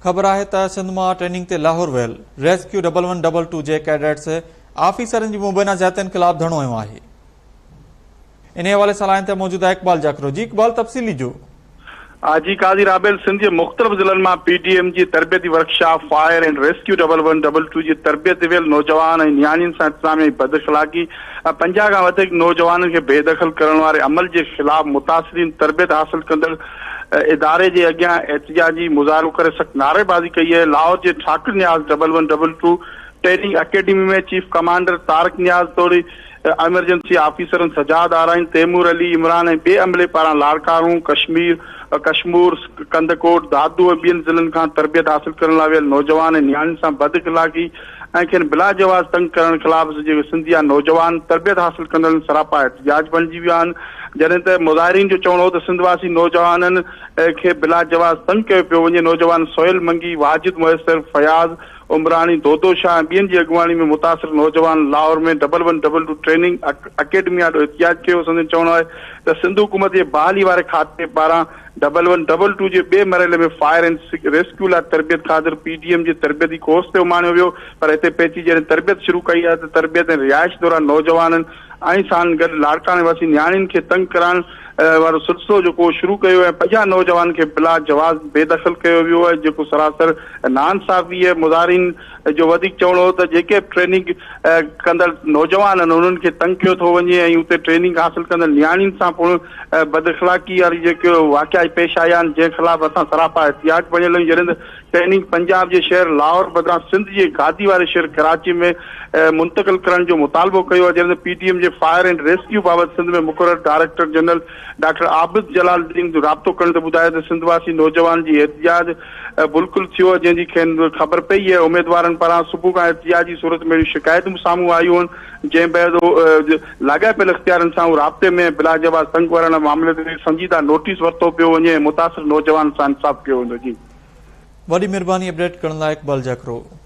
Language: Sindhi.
خبر آهي ته سنڌ مان ٽريننگ تي لاهور ويل rescue double one double two جي ڪيڊٽس آفيسرن جي مبينا زيادتين خلاف ڌرڻو هنيو آهي انهي حوالي سان لائين تي موجود آهي اقبال جاکرو جي اقبال تفصيل ڏجو. آء جي قاضي رابيل سنڌ جي مختلف ضلعن مان پي ڊي ايم جي تربيتي workshop fire and rescue double one double two جي تربيت تي ويل نوجوان ۽ نياڻين سان انتظاميا جي بداخلاقي ۽ پنجاهه کان وڌيڪ نوجوانن کي بيدخل ڪرڻ واري عمل جي خلاف متاثرين تربيت حاصل ڪندڙ اداري جي اڳيان احتجاجي مظاهرو ڪري سخت نعريبازي ڪئي اهي لاهور جي Thokar Niaz double one double two training academy ۾ chief commander Tariq Niaz توڙي ايمرجنسي آفيسرن سجاد آرائين تيمور علي عمران ۽ ٻئي عملي پاران لاڙڪاڻو ڪشمير ڪشمور ڪنڌڪوٽ دادو ۽ ٻين ضلعن کان تربيت حاصل ڪرڻ لاء ويل نوجوان ۽ نياڻين سان بد اخلاقي ۽ کين بلا جواز تنگ ڪرڻ خلاف جيڪي سنڌ جا نوجوان تربيت حاصل ڪندڙن سراپا احتجاج بڻجي ويا آهن جڏهن ته مظاهرين جو چوڻ هو ته سنڌ واسي نوجوانن کي بلا جواز تنگ ڪيو پيو وڃي نوجوان سهيل منگي، واجد ميسر، فياض عمراڻي، دودو شاهه ۽ ٻين جي اڳواڻي ۾ متاثر نوجوانن Lahore ۾ double one double two training academy آڏو احتجاج ڪيو سندن چوڻ آهي ته سنڌ حڪومت جي بحالي واري کاتي پاران ڊبل ون ڊبل ٽو جي ٻئي مرحلي ۾ فائر اينڊ ريسڪيو لاء تربيت خاطر پي ڊي ايم جي تربيتي ڪورس تي اماڻيو ويو پر هتي پهچي جڏهن تربيت شروع ڪئي آهي ته تربيت ۽ رهائش دوران نوجوانن ۽ سان گڏ لاڙڪاڻي واسين نياڻين کي تنگ ڪرڻ وارو سلسلو جيڪو شروع ڪيو ۽ پنجاهه نوجوانن کي بلا جواز بي دخل ڪيو ويو جيڪو سراسر ناانصافي مظاهرين جو وڌيڪ چوڻو هو ته جيڪي به ٽريننگ ڪندڙ نوجوان آهن انهن کي تنگ ڪيو ٿو وڃي ۽ اتي ٽريننگ حاصل ڪندڙ نياڻين سان پڻ بد اخلاقي واري جيڪي واقعا پيش آيا آهن جنهن خلاف اسان سراپا احتجاج بڻيل آهيون جڏهن ته ٽريننگ پنجاب جي شهر لاهور بدران سنڌ جي گادي واري شهر ڪراچي ۾ منتقل ڪرڻ جو مطالبو ڪيو آهي جڏهن ته پي ڊي ايم جي فائر اينڊ ريسڪيو بابت سنڌ ۾ مقرر director general doctor Abid Jalaluddin رابطو ڪرڻ تي ٻڌايو ته سنڌ واسي نوجوانن جي احتجاج بلڪل ٿيو ۽ جنهن جي کين خبر پئي ۽ اميدوارن پاران صبح کان احتجاجي صورت ۾ اهڙيون شڪايتون به سامهون آيون جنهن بعد لاڳاپيل اختيارين سان هو رابطي ۾ ۽ بلاجواز سنگ ورڻ معاملي تي سنجيده نوٽيس ورتو پيو وڃي ۽ متاثر نوجوانن سان انصاف ڪيو ويندو جي وڏي مھرباني اپڊيٽ ڪرڻ لاء اقبال جاکرو.